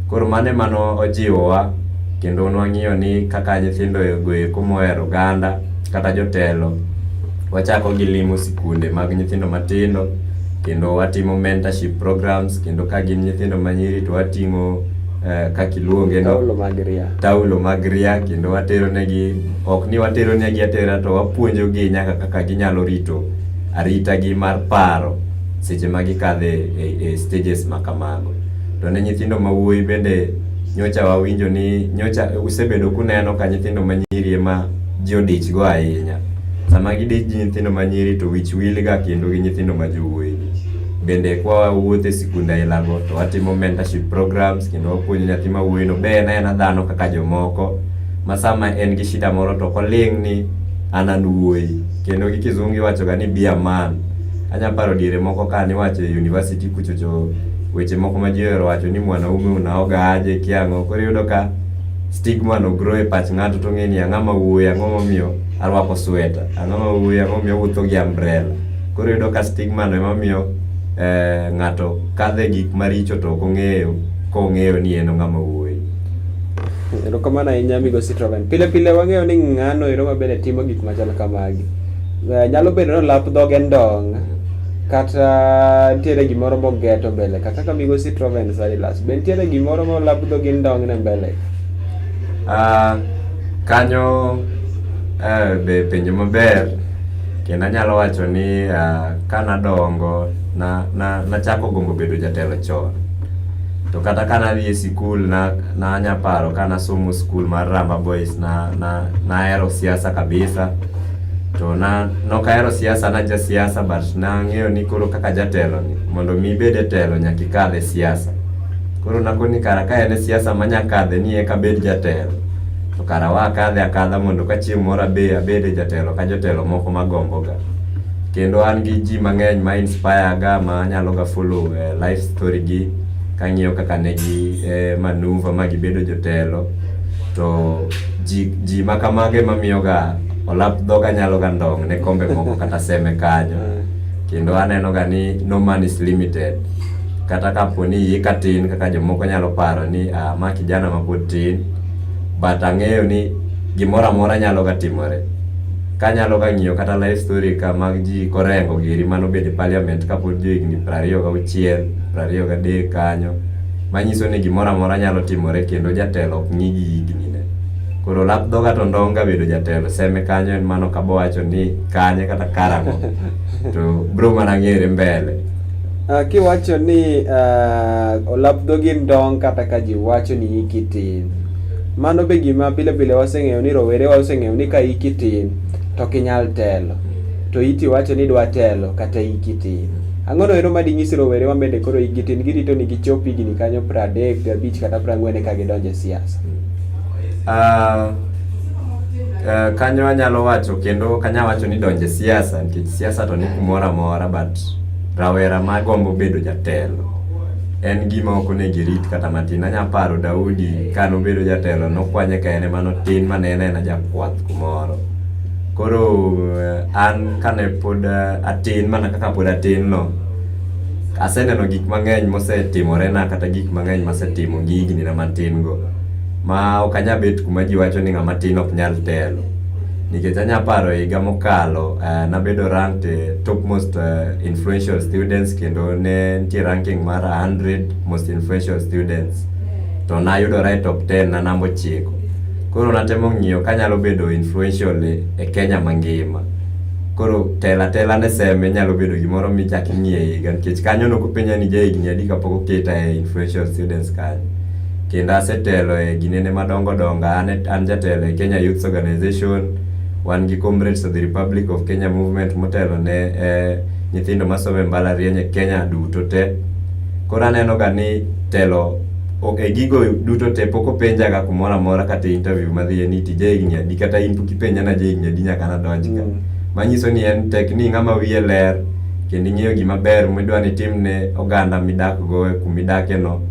Koro mano ema nojiwowa kendo nwang'iyo ni kaka nyithindo go eko mohero oganda kata jotelo wachako gi limo sikunde mag nyithindo matindo kendo watimo mentorship programs kendo ka gin nyithindo manyiri to wating'o eh, kaka iluonge no Taulo mag ria. taulo mag ria kendo watero negi ok ni watero negi atera to wapuonjo gi nyaka kaka ginyalo rito arita gi mar paro seche ma gikadhe e, e stages ma kamago to ne nyithindo ma wuoyi bende nyocha wawinjo ni nyocha usebedo kuneno ka nyithindo ma nyiri ema ji odichgo ahinya. Sama gidich gi nyithindo ma nyiri to wich wilga kendo gi nyithindo ma jowuoyi. Bende kwa wawuotho e sikunde ailago to watimo mentorship programs kendo wapuonjo nyathi ma wuoyino be en aena dhano kaka jomoko ma sama en gi shida moro to ok oling' ni an an wuoyi. Kendo gi kizungu iwachoga ni be a man. Anya paro diere moko ka niwacho e university kuchocho weche moko ma ji ohero wacho ni mwanaume unaoga aje kia ang'o. Koro iyudo ka. stigma no grow e pach ng'ato to ng'e ni ang'a ma wuoyi ang'o momiyo arwako sweta ang'o ma wuoyi ang'o momiyo awuotho gi umbrella koro yudo ka stigma no ema miyo eh, ng'ato kadhe gik maricho to ok ong'eyo kong'eyo ni en ng'ama wuoyi erokamano ahinya migosi troven pile pile wang'eyo ni ng'ano ero mabende timo gik machal kamagi Eh, nyalo bedo ni olap dhoge ndong' Kata nitiere gimoro mogeto mbele ka kaka migosi Troven Silas. Be nitiere gimoro molabdho gi ndong' ne mbele ka? Ah, kanyo eh, be penjo maber kendo anyalo wacho ni ah, ka nadongo na, na, nachako gombo bedo jatelo chon to kata ka nadhi e sikul na, nanya paro ka nasomo skul mar Ramba Boys na, na, nahero siasa kabisa to na nokahero siasa na jasiasa but nang'eyo ni koro kaka jatelo ni mondo mi ibed e telo nyaka ikadh e siasa koro nakoni ni kara ka en e siasa manya kadhe ni eka bed jatelo to kara wa akadhe akadha mondo ka chieng' moro abe abed e jatelo ka jotelo moko magomboga kendo an gi ji mang'eny ma inspire ga ma anyalo ga follow uh, life story gi kang'iyo kaka ne gi eh, manuva ma gibedo jotelo to ji, ji ma kamage ma miyoga olap dhoga nyalo ga ndong' ne kombe moko kata seme kanyo kendo aneno ga ni no man is limited kata kapo ni iyi ka tin kaka jomoko nyalo paro ni ah, ma kijana ma pod tin but ang'eyo ni gimoro amora nyalo ga timore kanyalo ga ng'iyo kata life story ka mag ji korengo giri mano bede parliament kapod jo higni prariyo gauchiel prariyo gadek kanyo manyiso ni gimoro amora nyalo timore kendo jatelo ok ng'i gi hignine koro lap dhoga to ndong' ga bedo jatelo seme kanyo en mano kabo wacho ni kanye kata karang'o to bro mana ng'ere mbele Uh, kiwacho ni uh, olap dhogi ndong' kata ka ji wacho ni hiki tin mano be gima pile pile waseng'eyo ni rowere waseng'eyo ni ka hiki tin to ok inyal telo to iti wacho ni idwa telo kata hiki tin Ang'o noero ma dinyis rowere ma bende koro hikgi tin girito ni gichop higni kanyo pradek gabich kata prang'wen eka gidonj e siasa? Ah, ah, kanyo anyalo wacho kendo ok anyal wacho ni donjo e siasa nikech siasa to ni kumoro amora but rawera ma gombo bedo jatelo en gima ok onego irit kata matin. Anyalo paro Daudi ka nobedo jatelo nokwanye ka en ema notin ma ne en aena jakwath kumoro. Koro eh, an kane pod eh, atin mana kaka pod atin no, aseneno gik mang'eny mosetimorena kata gik mang'eny masetimo gi higni na matin go. Ma ok anya bet kuma ji wacho ni ng'ama tin ok nyal telo. Nikech anya paro higa mokalo, eh, nabedo ranked eh, top most eh, influential students kendo ne nitie ranking mar 100 most influential students. To nayudora e top 10 na namba ochiko. Koro natemo ng'iyo kanyalo bedo influential e, e Kenya mangima. Koro tela tela ne seme nyalo bedo gimoro michak ing'iye higa nikech kanyo nokopenja ni jahigni adi kapok oketa e influential students kanyo. Kendo asetelo e ginene madongo dongo, an, e, an jatelo e Kenya Youths Organization, wan gi Comrades of the Republic of Kenya Movement motelo ne eh, nyithindo masomo e mbalariany e Kenya duto te. Koro aneno ga ni telo Okay, gigo duto te pok openjaga kumoro amora kata interview madhiye ni tija higni adi kata in pok ipenja na ja higni adi nyaka nadonj ka. Mm. Manyiso ni en tek ni ng'ama wiye ler kendo ing'eyo gima ber midwa ni timne oganda midakgo e kuma idakeno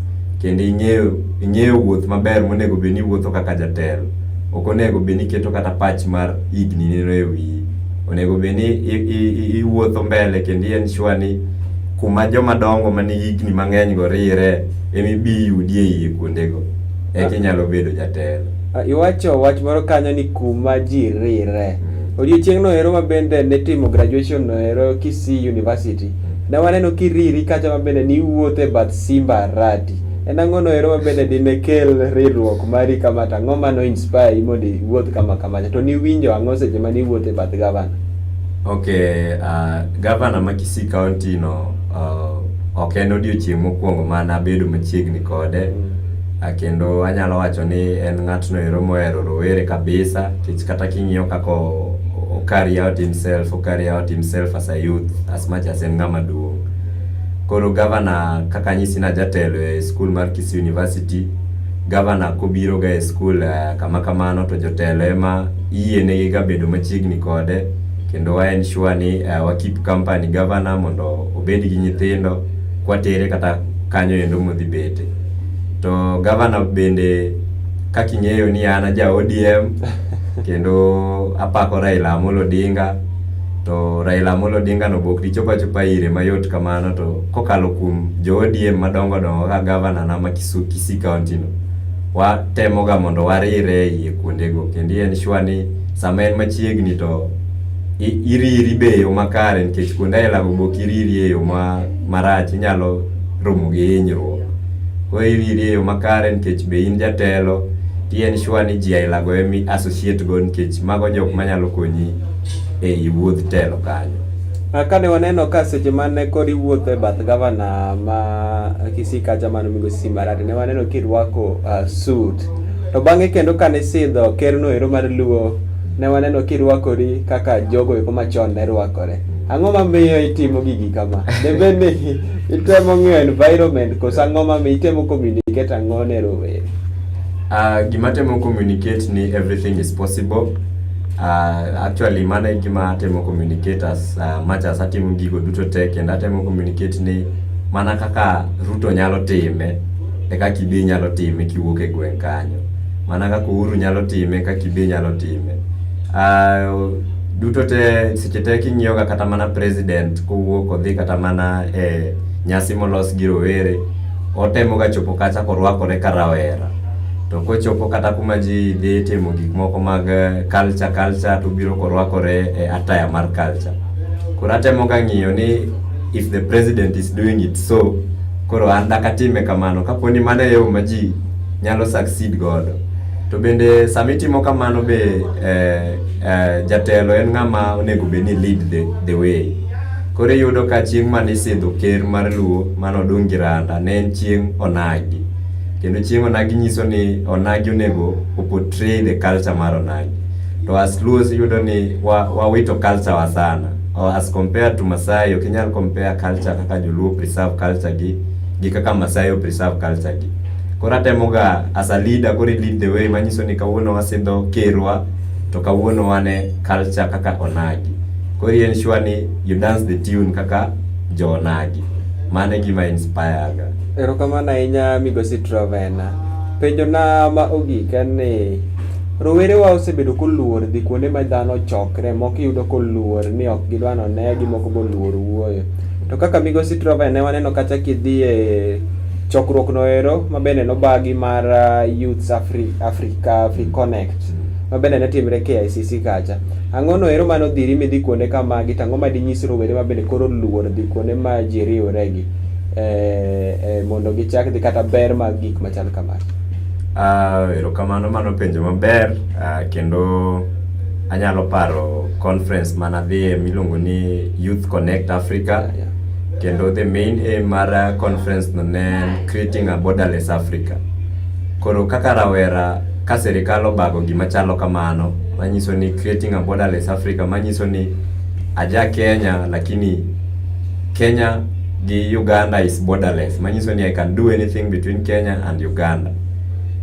kendo ing'eyo ing'eyo wuoth maber monego bed ni iwuotho kaka jatelo. Ok onego bed ni iketo kata pach mar higni nino e wiyi. Onego bed ni i- i- i- iwuotho mbele kendo i ensure ni kuma jomadongo manigi higni mang'eny go rire ema ibi yudi e iye kuondego eka inyalo bedo jatelo Ah, iwacho wach moro kanyo ni kuma ji rire Mm. odiochieng'no ero ma bende nitimo graduation no ero kisii university ne waneno kiriri kacha ma bende niwuotho e bath simba arati en ang'ono ero ma bende dine kel riwruok mari kama to ang'o ma no inspire i mondo iwuoth kama kamacha to niwinjo ang'o seche ma niwuotho e bath gavana ok uh, gavana ma kisii county no Uh, ok en odiochieng' mokwongo ma nabedo machiegni kode mm. uh, kendo anyalo wacho ni en ng'atno ero mohero rowere kabisa kech kata king'iyo kaka carry out himself o carry out himself as a youth as much as en ng'ama duong' koro gavana kaka nyisi na jatelo e skul mar Kisii University gavana kobiro ga e skul uh, kama kamano to jotelo ema yienegi ga bedo machiegni kode kendo wa ensure ni uh, wa keep company governor mondo obed gi nyithindo kwatere kata kanyo endo modhi bete to governor bende kaka ing'eyo ni an aja ODM kendo apako Raila Amolo Odinga to Raila Amolo Odinga no bok dichopa chopa ire mayot kamano to kokalo kuom jo ODM madongo dongo ka governor na ma Kisu- Kisii county no watemoga mondo warire iye kuondego kendo en sure ni sama en machiegni to iriri be eyo makare nikech kuonde aila go bok iriri eyo ma marach inyalo romo gi hinyruok koro iriri eyo makare nikech be in jatelo ti en sure ni ji aila go emi associate go nikech mago jok manyalo konyi ei wuodh telo kanyo ah, kane waneno ka seche mane kod iwuotho e bath gavana ma kisikacha mano migosi simbarati ne waneno kirwako uh, suit To bang'e kendo kane isidho kerno ero mar luo, ne waneno kirwakori kaka jogo eko machon ne rwakore. Ang'o mamiyo itimo gigi kama? Debe ni itemo ng'iyo environment koso ang'o mamiyo itemo communicate ang'o ne rowere? Ah, gima temo communicate ni everything is possible uh, actually mano e gima atemo communicate as uh, much as atimo gigo duto te kendo atemo communicate ni mana kaka Ruto nyalo time e kaka ibe inyalo time kiwuok e gweng' kanyo. Mana kaka Uhuru nyalo time e kaka ibe inyalo time. Uh, duto te seche te king'iyoga kata mana president kowuok odhi kata mana e nyasi molos gi rowere otemoga chopo kacha korwakore ka rawera to kochopo kata kuma ji dhi timo gik moko mag eh, culture culture to biro korwakore e ataya mar culture koro atemoga ng'iyo ni if the president is doing it so Koro an dak atime kamano kapo ni mano e yo ma ji nyalo succeed godo. To bende sama itimo kamano be eh, eh, jatelo en ng'ama onego bed ni lead the, the way. Koro iyudo ka chieng' mane isidho ker mar Luo mane odong' gi randa ne en chieng' onagi. Kendo chieng' onagi nyiso ni onagi onego o portray the culture mar onagi. To as Luos iyudo ni wa, wawito culture wa sana. or as compared to Masai ok inyal compare culture kaka Joluo preserve culture gi gi kaka Masai preserve culture gi koro atemoga as a leader koro lead the way manyiso ni kawuono wasidho kerwa to kawuono wane culture kaka onagi koro en sure ni you dance the tune kaka jo onagi mano e gima inspire ga erokamano ahinya migosi trovena penjona ma ogik en ni Rowerewa osebedo koluor dhi kuonde ma dhano chokre, moko iyudo koluor ni ok gidwa ni onegi, moko be oluor wuoyo. To kaka Migosi Trovae ne waneno kata kidhi e chokruokno ero ma bende nobagi mar ah, Youths Afri- Africa Afri Connect ma bende ne timre KICC kacha. Ang'ono ero mane odhiri midhi kuonde kamagi to ang'o ma dinyis rowere ma bende koro oluor dhi kuonde ma ji riworegi eh, eh, mondo gichak dhi kata ber mag gik machal kamagi? Uh, erokamano mano penjo maber uh, kendo anyalo paro conference mana dhiye miluongo ni Youth Connect Africa yeah. kendo the main aim mar uh, conference no ne creating a borderless Africa. Koro kaka rawera ka serikal obago gima chalo kamano manyiso ni creating a borderless Africa manyiso ni aja Kenya lakini Kenya gi Uganda is borderless manyiso ni I can do anything between Kenya and Uganda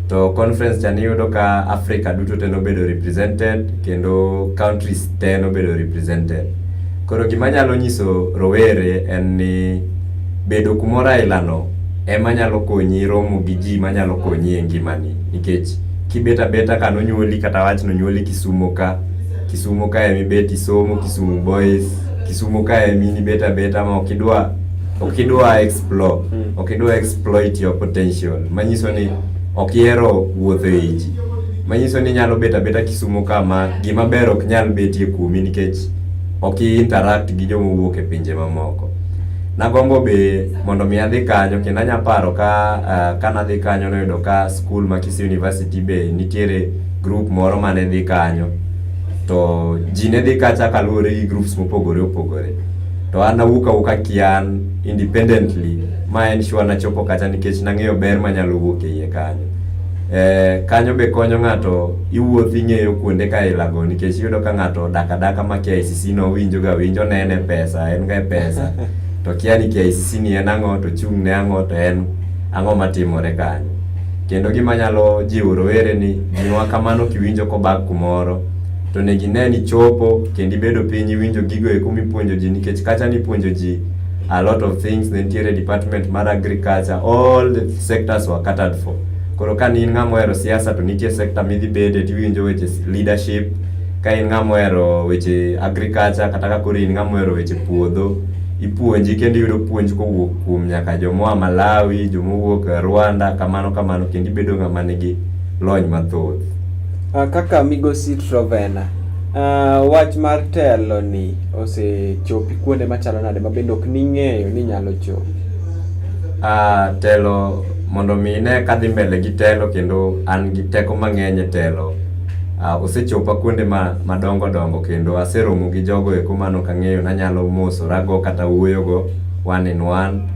to conference cha niyudo ka Africa duto te nobedo represented kendo countries te nobedo represented. Koro gima nyalo nyiso rowere en ni bedo kumoro ailano ema nyalo konyi romo gi ji manyalo konyi e ngimani nikech kibet abeta ka nonyuoli kata wach nonyuoli Kisumo ka, Kisumo ka ema ibet isomo, Kisumu boys Kisumu kae mini beta beta ama okidwa okidwa explore mm. okidwa exploit your potential manyiso ni okihero wuotho e ji manyiso ni nyalo beta beta Kisumu kama gima ber ok nyal betie kuomi nikech ok interact gi joma wuok e pinje mamoko nagombo be mondo mi adhi kanyo kendo anya paro ka uh, ah, ka nadhi kanyo noyudo ka school ma Kisii University be nitiere group moro mane dhi kanyo to ji ne dhi kacha kaluwore gi groups mopogore opogore to an awuok awuoka kian independently ma en sure nachopo kacha nikech nang'eyo ber manyalo wuok e iye kanyo eh, kanyo be konyo ng'ato iwuoth ing'eyo kuonde ka ilago nikech iyudo ka ng'ato dak adaka ma KICC no winjo ga winjo ne en e pesa en ga e pesa to kia ni KICC ni en ang'o to chung' ne ang'o to en ang'o matimore kanyo Kendo gima nyalo jiwo rowere ni miwa kamano kiwinjo kobak kumoro to onego ine ni chopo kendo ibedo piny iwinjo gigo eko mipuonjo ji nikech kacha nipuonjo ji a lot of things ne nitiere department mar agriculture all the sectors were catered for koro ka in ng'ama ohero siasa to nitie sector midhi bede tiwinjo weche leadership ka in ng'ama ohero weche agriculture kata ka koro in ng'ama ohero weche puodho ipuonji kendo iyudo puonj kowuok kuom nyaka jomoa Malawi, jomowuok Rwanda kamano kamano kendo ibedo ng'ama nigi lony mathoth. Ah, kaka migosi Trovena, ah, wach mar telo ni osechopi kuonde machalo nade ma bende ok ning'eyo ni nyalo chopi? Ah, telo mondo mi ine kadhi mbele gi telo kendo an gi teko mang'eny e telo ah, osechopa kuonde ma madongo dongo kendo aseromo gi jogo eko mano kang'eyo nanyalo mosorago kata wuoyogo one in one.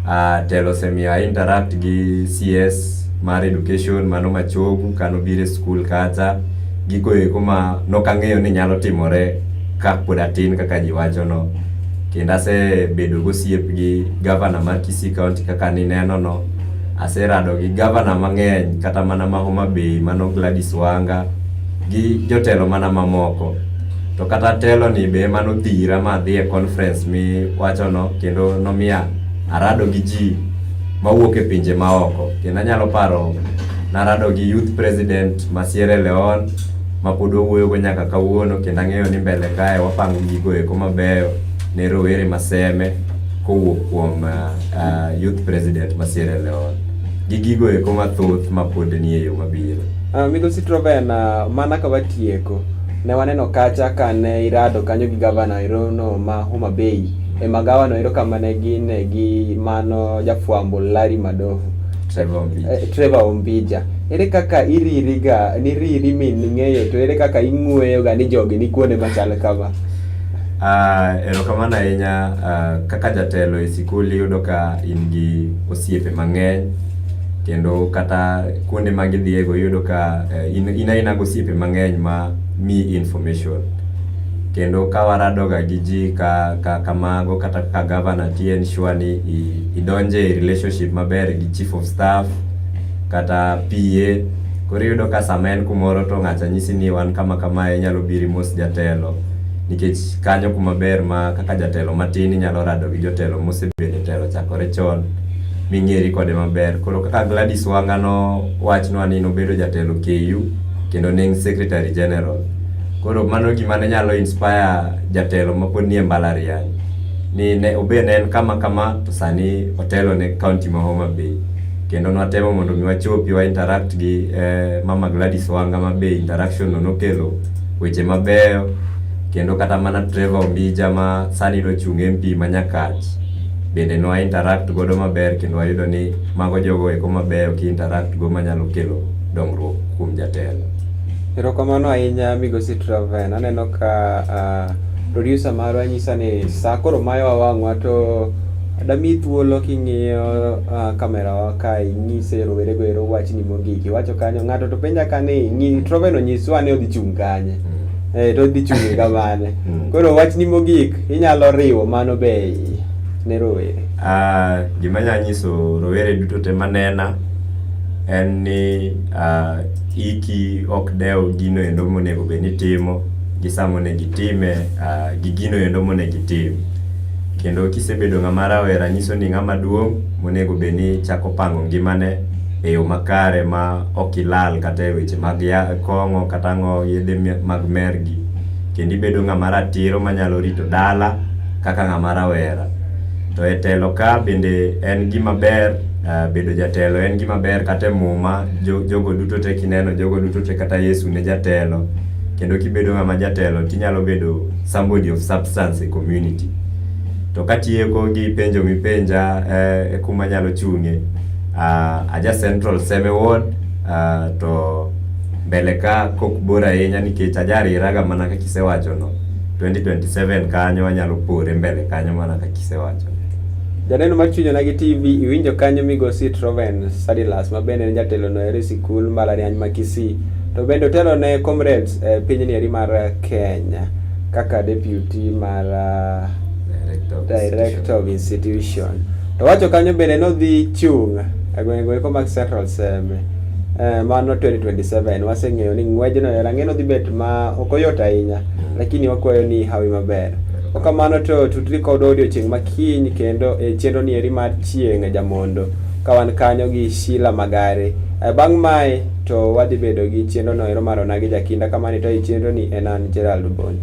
Uh, telo semia interact gi CS mar education mano machogu kano bire school kacha gigo eko ma nokang'eyo ni nyalo timore ka pod atin kaka ji wacho no kendo asebedo gosiep gi gavana mar Kisii County kaka nineno no aserado gi gavana mang'eny kata mana ma Homa Bay mano Gladys Wanga gi jotelo mana mamoko to kata telo ni be emane odhira ma adhi e conference miwachono kendo nomiya arado gi ji mawuok e pinje maoko kendo anyalo paro narado gi youth president ma Sierra Leone ma pod wawuoyogo nyaka kawuono kendo ang'eyo ni mbele kae wapango gigo eko mabeyo ne rowere maseme kowuok kuom uh, uh, youth president ma Sierra Leone gi gigo eko mathoth mapod nie yo mabiro. Uh, Migosi Troven, uh, mana ka watieko Ne waneno kacha ka ne irado kanyo gi gavana erono ma Homa Bay e magawa no ero kama ne gin e gi mano jafwambo Larry Madoho eh, Trevor Ombija ere kaka iriri ga niriri min ng'eyo to ere kaka ing'weyo ga ni jogi ni kuonde machal kama Uh, erokamano ahinya uh, kaka jatelo e sikul iyudo ka in gi osiepe mang'eny kendo kata kuonde ma gidhiye go iyudo ka eh, in in aina gosiepe mang'eny ma mi information kendo ka waradoga gi ji ka, ka kamago kata ka governor ti ensure ni i- idonje e relationship maber gi chief of staff kata PA koro iyudo ka sama en kumoro to ng'acha nyisi ni wan kama kamae inyalo biri mos jatelo nikech kanyo kuma ber ma kaka jatelo matin inyalo rado gi jotelo mosebedo e telo chakore chon ming'eri kode maber. Koro kaka Gladys Wanga nowachnwa ni nobedo jatelo KU kendo ne en secretary general. Koro mano gima ne nyalo inspire jatelo mapod nie mbalariany ni ne obe ne en kama kama to sani otelo ne county ma Homa Bay. Kendo nwatemo mondo mi wachopi wa interact gi eh, Mama Gladys Wanga ma be interaction no nokelo weche mabeyo kendo kata mana Trevor Ombija ma sani nochung' MP ma Nyakach bende nwa interact godo maber kendo wayudo ni mago jogo eko mabeyo ki interact go manyalo kelo dongruok kuom jatelo. Erokamano ahinya Migosi Traven, aneno ka uh, producer marwa nyisa ni saa koro mayowa wang'wa to dami thuolo king'iyo uh, kamera wa ka inyise rowere go ero wachni mogik iwacho kanyo ng'ato to penja ka ni Traven onyiswa ni odhi chung' kanye. Mm. Eh, to dhi chunge kamane hmm. koro wachni mogik inyalo riwo mano be ne rowere ah, gima nya nyiso rowere duto te manena en ni ah, iki ok dew gino endo monego bed ni timo gi sa monego itime ah, gi gino endo monego itim kendo kisebedo ng'ama rawera nyiso ni ng'ama duong' monego bed ni chako pango ngimane e yo makare ma ok ilal kata e weche mag kong'o kata ng'o yedhe mag mergi kendo ibedo ng'ama ratiro manyalo rito dala kaka ng'ama rawera. To e telo ka bende en gima ber eh, bedo jatelo en gima ber kata e muma jogo duto te kineno jogo duto te kata Yesu ne jatelo kendo kibedo ng'ama jatelo tinyalo bedo somebody of substance e community. To katieko gi penjo mipenja eh, e kuma anyalo chung'e uh, aja central seme ward uh, to mbele ka kok bor ahinya nikech aja riraga mana kaka isewacho no 2027 kanyo anyalo pore mbele kanyo mana kaka isewacho Janeno mar Chuny Onagi TV iwinjo kanyo migosi Troven Sadilas ma bende en jatelo no eri sikul mbalariany ma Kisii to bende otelo ne comrades eh, pinyni eri mar eh, Kenya kaka deputy mar ah, Director of Director of Institution. To wacho kanyo bende nodhi chung' e gwenge eko mag Central Seme. Eh, mano 2027 waseng'eyo ni ng'wejno e rang'e nodhi bet ma ok oyot ahinya lakini wakwayo ni hawi maber okamano to tutri kod odiochieng' makiny kendo e chenro ni eri mar chieng' e jamondo ka wan kanyo gi Sheila Magare Eh, bang' mae to wadhi bedo gi chenro no ero mar ona gi jakinda kamani to i chenro ni en an Gerald Bonyo